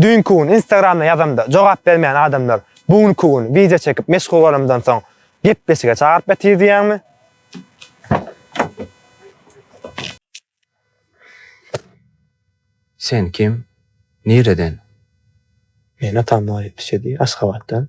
Düýnki gün Instagramda ýazamda jogap bermeýän adamlar bu günki gün wideo çekip meşhurlanamdan soň gepleşige çagyryp ýatyr diýýäňmi? Sen kim? Nireden? Meni atam Noýa ýetişedi, Aşgabatdan.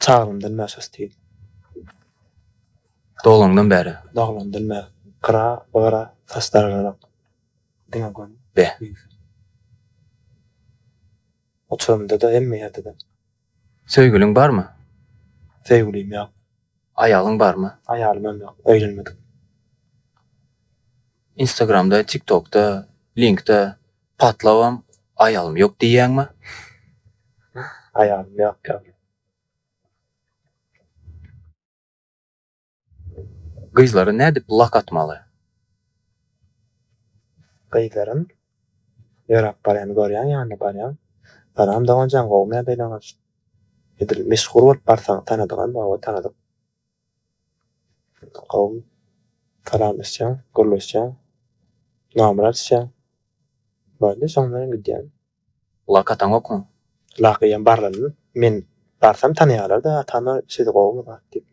Çaglymdan bäri şo stil. Doglanňdan bäri. Doglandan bäri. Gyra, gyra saçlar yranok. Diňe göni. Be. Uçurymda-da, hemme ýerde-de. Söýgüliň barmy? Söýgülim ýok. Aýalyň barmy? Aýalymam ýok, öýlenmedik. Instagramda, TikTokda, Linkda. Patlabam aýalym ýok diýýäňmi? Aýalym ýok ýaly. Gyzlara nädip lak atmaly? Gyzlaram ýöräp barýan görýäň ýanyna barýaň. Salam doganjan gowmy ýagdaýlaňyz? Edil meşhur bolup barsaň tanadygam bar we tanadyk. Gowmy? Salam isýäň, gürleşýäň, namrat isýäň. Boldy, şoň bilen hem gidýän. Lak ataňokmy? Lak eýýäm barlanmy? Men barsam tanaýarlar-da, atama siz gowumy zat diýip.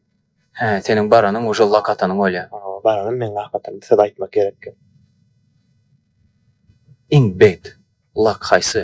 Hä, seniň baranyň uje lak atanyň bolýar. Hawa, baranym meň lak atanym, söz aýtmak gerekkä. Iň bet lak haýsy?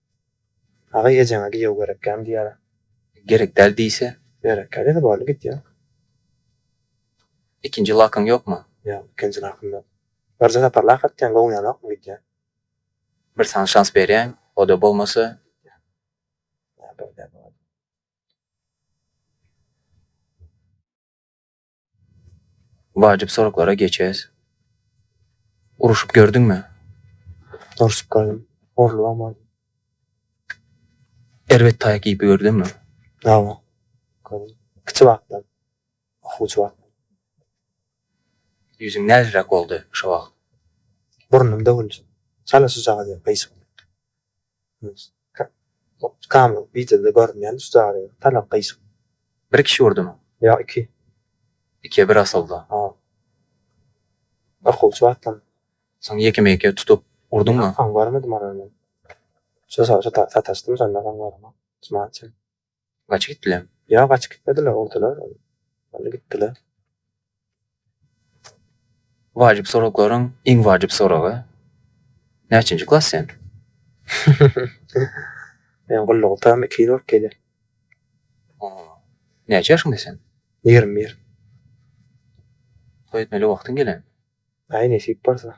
Aga ejeňe giýew gerekgämi diýýär. Gerek däl diýse. Gerek däl diýse boldy git diýýär. Ikinji lakyň ýokmy? Ýok, ikinji lakym ýok. Birje sapar lak atýaň, gowunýanokmy git diýýär. Bir saňa şans berýän, o-da bolmasa. Git diýýär. Wajyp soraglara geçes. Uruşyp gördüňmi? Urşup gördüm. Urlubam gördüm. Erbet taýak iýip gördüňmi? Hawa. Gördüm. Kiçi wagtdan. Okuwçy wagtdan. Ýüzüň näzirek boldy şo wagt? Burnum döwüldi. Çala şujagaz ýaly gyýşyk. Kamyl wideoda görünýän üç zady tanap gyýjak. Bir kişi urdymy? Ýok iki. Ikiye bir asylda. Ha. Okuwçy wagtym. Soň ýekeme ýeke tutup urdyňmy? Soň görmedim olary men. Şo sataşdym şonda soň göremok. Ysman üçin. Gaçyp gitdilermi? Ýok, gaçyp gitmediler, urdular, ony gitdiler. Wajyp soraklaryň iň wajyp soragy. Näçinji klas sen? Men gulluk utam 2 ýyl bolup gelýär. Näçe ýaşyňda sen? 21. Toý etmeli wagtyň gelenmi? Aý, nesip bolsa.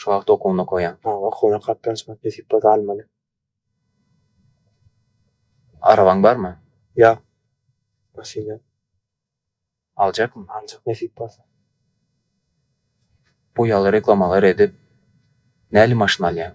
Şu wagt okuwyny okaýan. Maňa okuwyna gatnaşmak nesip bolsa almaly. Arabaň barmy? Ýok. Maşyn ýok. Aljakmy? Aljak nesip bolsa. Bu ýaly reklamalar edip näli maşyn alýaň?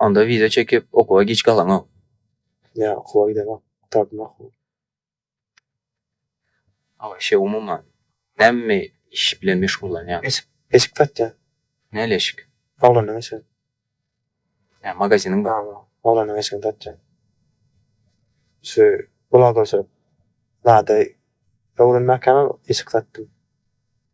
Onda wiza çekip okuwa giç galaňok. Ýa okuwa gidenok, gutaryp makuly. A waşe umuman näme iş bilen meşgullanýaň? Eşik, eşik satýan. Näli eşik? Oglanyň eşigi. Ýa magaziniň bar. Bar bar. Oglanyň eşigini satýan. Şu bulagerçilik zady öwrenmäkäm eşik satdym.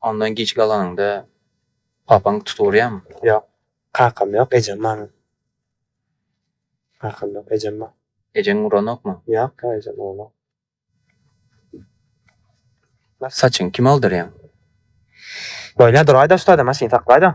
Ondan giç galanyňda papaň tutugurýamy? Ýok. Kakam ýok, ejem bar meniň. Kakam ýok, ejem bar. Ejeň uranokmy? Ýok, ýok, ejem uranok. Saçyňy kime aldyrýaň? Bolýar, duraý-da ussada, maşyn saklaý-da.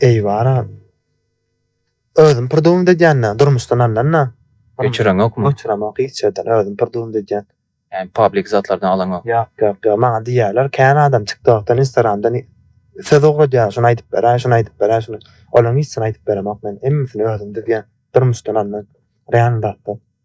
Eý bara. Özüm prdumt edýän-dä, durmuşdan alnan-da. Göçüreňokmy? Göçüremok hiç ýerden, özüm prdumt edýän. Ýagny public zatlardan alaňok. Ýok, ýok, ýok. Maňa diýýärler, kän adam TikTokdan, Instagramdan söz ugradýar, şuny aýdyp beräý, şuny aýdyp beräý, şuny. Olaryň hiçsini aýdyp beremok men, hemmesini özüm düzýän, durmuşdan alnan, real zatlar.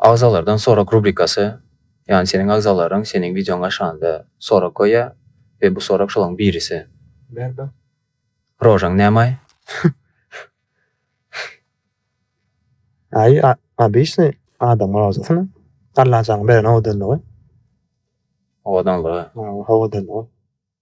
Agzalardan sorag rubrikasy, ýagny seniň agzalaryň seniň wideoňy aşanda sorag goýýa we bu sorag şolaň birisi. Berdi. Rožaň nämaý? Aý, obysnyý adamyň rožasymy? Allajanyň beren owadanlygy. Owadanlygy. Owadanlygy.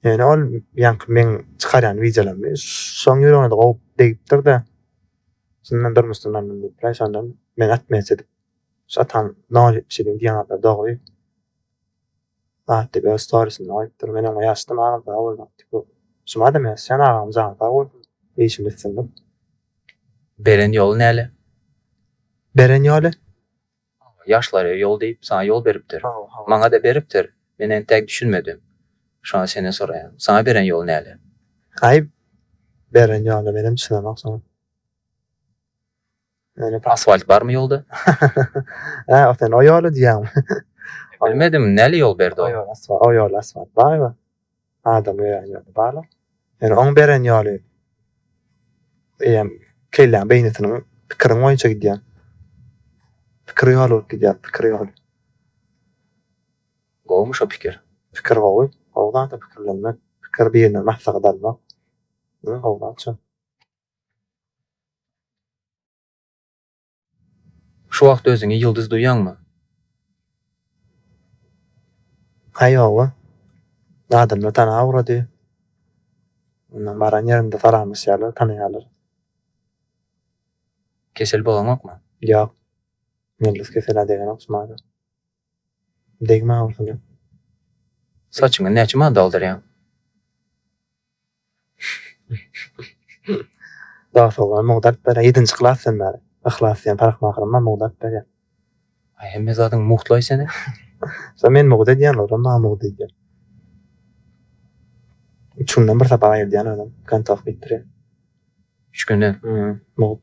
Ýöne ol ýaňky meň çykarýan wideolarymy şoň ýüregine-de gowy degipdir-de, şundan durmuşdan aldym diýipdir-aý, şondan meni atmyýaç edip, şu atan nol ýetmiş ýedi diýen zat dogry zat diýip öz storisinde goýupdyr. Men oňa ýazdym, agam sag bol zat diýip, şumadam ýazýan agam jany sag bolsun, işinde üstünlik. Beren ýoly näle? Beren ýoly? Maňa ýaşlara ýol diýip, saňa ýol beripdir. Maňa-da beripdir. Men entäk düşünmedim. Şonda senden soraýan. Saňa beren ýol näle? Aý, beren ýoly menem düşünemok soň. Asfalt barmy ýolda? Hä, o sen o ýoly diýýäňmi? Bilmedim, näle ýol berdi o? O ýoly asfalt barmy? Adam öýen ýoly bala. Ýöne oň beren ýoly eýýäm kelläň beýnisiniň pikiriň boýunça gidýän. Pikir ýoly bolup gidýär, pikir ýoly. Gowumy şo pikir? Pikir gowy. Gowy zada pikirlenmek, pikir birinden maslahat almak. Gowy zat şo. Şu wagt özüňi ýyldyz duýýaňmy? Haý ýog-a. Adamlar tana ugrady. Onda baran ýerinde salamlaşýarlar, tanaýarlar. Kesel bolaňokmy? Ýok. Ýyldyz kesel-ä degenok şumadan. Degme agyrsyna. Saçyňy näçe manada aldyrýaň? Dag sowgan mugdaryp berýär. Ýedinji klas sen bäri. Yhlas diýen parahmahyryň bar mugdaryp berýär. Aý hemme zadyň mugtlaý seni. Sen men mugdy edýän olar maňa mugdy edýär. Üç günden bir sapak aýyrdýan adam. Kontak diýip durýar. Üç günden. Mugt.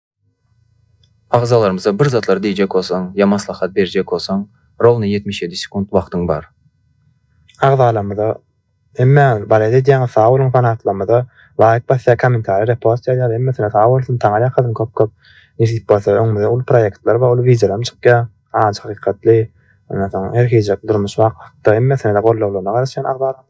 Agzalarymyza bir zatlar diýjek bolsaň ýa maslahat berjek bolsaň rowny ýetmiş ýedi sekunt wagtyň bar. Agzalarymyza Hemmäňiz bales edýäňiz sag boluň fanatlarymyza laýk basýar kommentariýa repost ýazýar hemmesine sag bolsun taňar ýakasyn köp köp nesip bolsa öňümizde uly proýektler bar uly wideolaram çykýar ajy hakykatly ondan soň her hili durmuş waka hakda hemmesine-de gollawlaryna garaşýan agzalarymyň.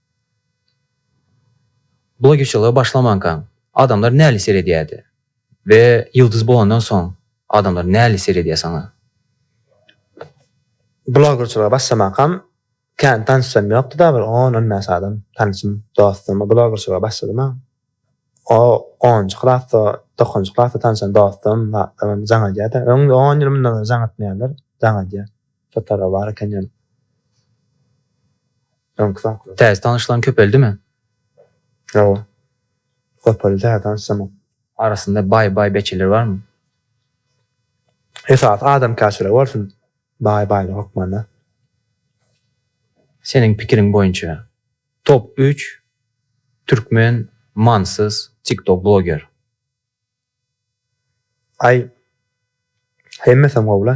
Blogerçylyga başlamankaň, adamlar näli seredýärdi we ýyldyz bolandan soň adamlar näli seredýär saňa? Blogerçylyga başlamakam kän tanyşym ýokdy-da, bir on-on bäş adam tanyşym, dostum. Blogerçylyga başladym-a. O onunjy klasda, dokuzynjy klasda tanyşan dostum, zatlaram jaň edýär-de. Öň on ýyl mundan ozal jaň etmeýärler, jaň edýär. Şo taraba bar eken ýöne. Öňki sanklar. Täze tanyşlaň köpeldimi? Hawa. Köpeldi täze tanyşlamak. Arasynda baý baý beçeler barmy? Esasy adamkärçilik bolsun baý baýlyk hökmanda. Seniň pikiriň boýunça top üç türkmen manysyz tiktok bloger. Aý hemmesem gowy la.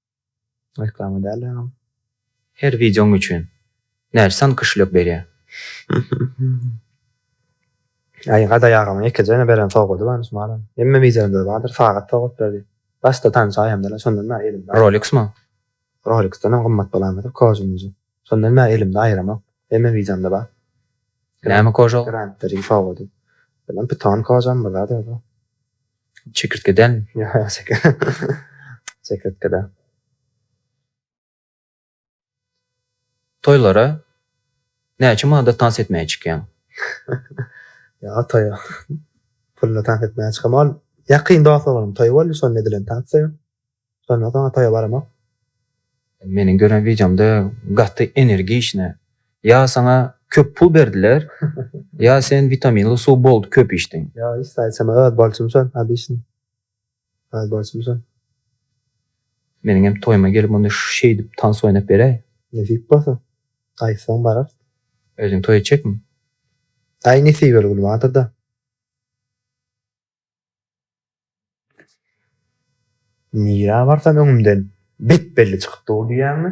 Reklama däl agam. Her wideoň üçin. Näçe san kişilik berýä. Aý Gadaý agama ýekeje beren sowgady bar şu malam. Hemme wideolarymda bardyr sagat sowgat berdi. Başda tanyş aýamda-la şondan bäri elimde. Roliksmi? Roliksdenem gymmat bolanmydyr kožunyjy. Şondan bäri elimde aýyramok. Hemme wideomda bar. Näme koža ol? Grant Three sowgady. Bilen pyton kožamy bir zady ýoga. Çekirtgeden. Çekirtgede. Toýlara näçe manada tans etmäge çykýaň? Ýa toýa. Puluna tans etmäge çykamok. Ýakyn dost bolan toý boldy, şonda edilen tans. Şondan soň toýa baramok. Meniň gören wideomda gaty energiçne. Ýa saňa köp pul berdiler, ýa sen witaminly suw boldy köp içdiň. Ýok hiç zat içemok öz borçum şol обычный. Öz borçum şol. Meniň hem toýuma gelip onda şeýdip tans oýnap beräý. Nesip bolsa. Aýtsaň bararys. Özüň toý etjekmi? Aý nesip öl gülüp atyrda. Nirä barsam öňümden bep-belli çykyp dur diýýäňmi?